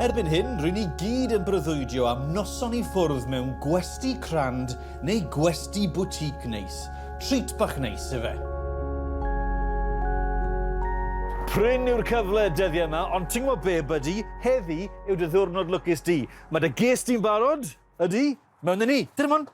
Erbyn hyn, rydyn ni gyd yn breuddwydio am noson i ffwrdd mewn gwesti crand neu gwesti boutique neis. Treat bach neis, efe. Prin yw'r cyfle dyddiau yma, ond ti'n gwybod be, buddy, heddi yw dy ddiwrnod lwcus di. Mae dy ges di'n barod, ydy? Mewn ni. Dyna mond.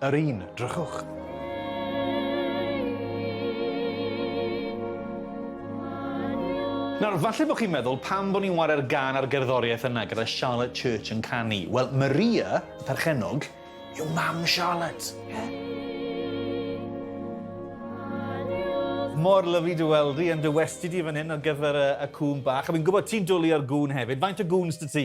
Yr un, drychwch. Nawr, falle bod chi'n meddwl, pam bod ni'n ware'r gan ar gerddoriaeth yna gyda Charlotte Church yn canu? Wel, Maria, y perchennog, yw mam Charlotte. Yeah. mor lyflu dy weld di, yn dy westi di fan hyn ar gyfer y, y cŵn bach. A fi'n gwybod ti'n dwlu ar gŵn hefyd. Faint o gŵns dy ti?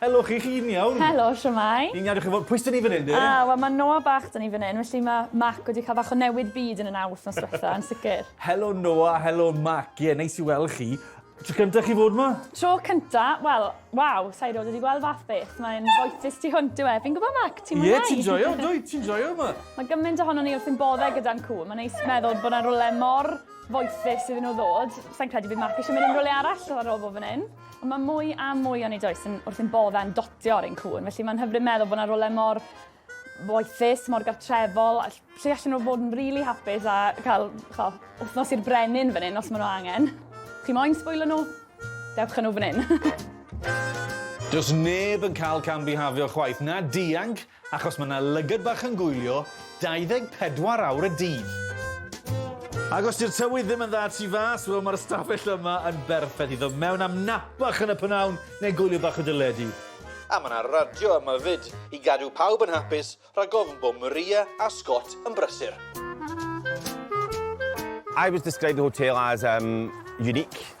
Helo chi, chi'n iawn? Helo, shwmae? Ni'n iawn, dych chi'n fod, pwy sy'n ni fan hyn de? A, wel mae Noah bach dyn ni fan hyn, felly mae Mac wedi cael bach o newid byd yn y nawdd nos diwetha, yn sicr. Helo Noah, helo Mac, ie, yeah, neis i weld chi. Tro cyntaf chi fod yma? Tro cyntaf, wel, waw, sa'i rod wedi gweld fath beth, mae'n foethus tu hwnt yw e. Fi'n gwybod Mac, ti'n mwynhau? Ie, ti'n joio, dwi, ti'n joio yma. Mae gymaint ohono ni wrth yn boddau gyda'n cw, mae'n neis meddwl bod yna rwle mor foethus iddyn nhw ddod. Sa'n credu bydd Mac eisiau mynd yn rhywle arall ar ôl bod fan hyn. Ond mae mwy a mwy o'n i does yn wrth yn boddau yn dotio ar ein cŵn, felly mae'n hyfryd meddwl bod yna rolau mor boethus, mor gartrefol, lle allan nhw fod yn rili really hapus a cael cho, wythnos i'r brenin fan hyn os maen nhw angen. Chi moyn sbwylo nhw? Dewch â nhw fan hyn. Does neb yn cael cam bihafio chwaith, na dianc, Achos mae 'na lygad bach yn gwylio 24 awr y dydd. Ac os 'di'r tywydd ddim yn dda tu fas, wel mae'r ystafell yma yn berffeth i ddod mewn am nap bach yn y pynawn neu gwylio bach o deledu. A mae 'na radio yma 'fyd i gadw pawb yn hapus rhag ofn bod Maria a Scott yn brysur. I was described the hotel as um, unique.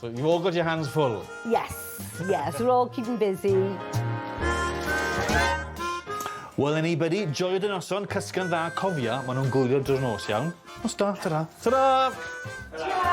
So you've all got your hands full? Yes, yes, we're all keeping busy. Well anybody, joio dy noson, cysgu'n dda, cofia, maen nhw'n gwylio drwy'r nos iawn. Nos da, ta-ra. Ta-ra! Ta-ra!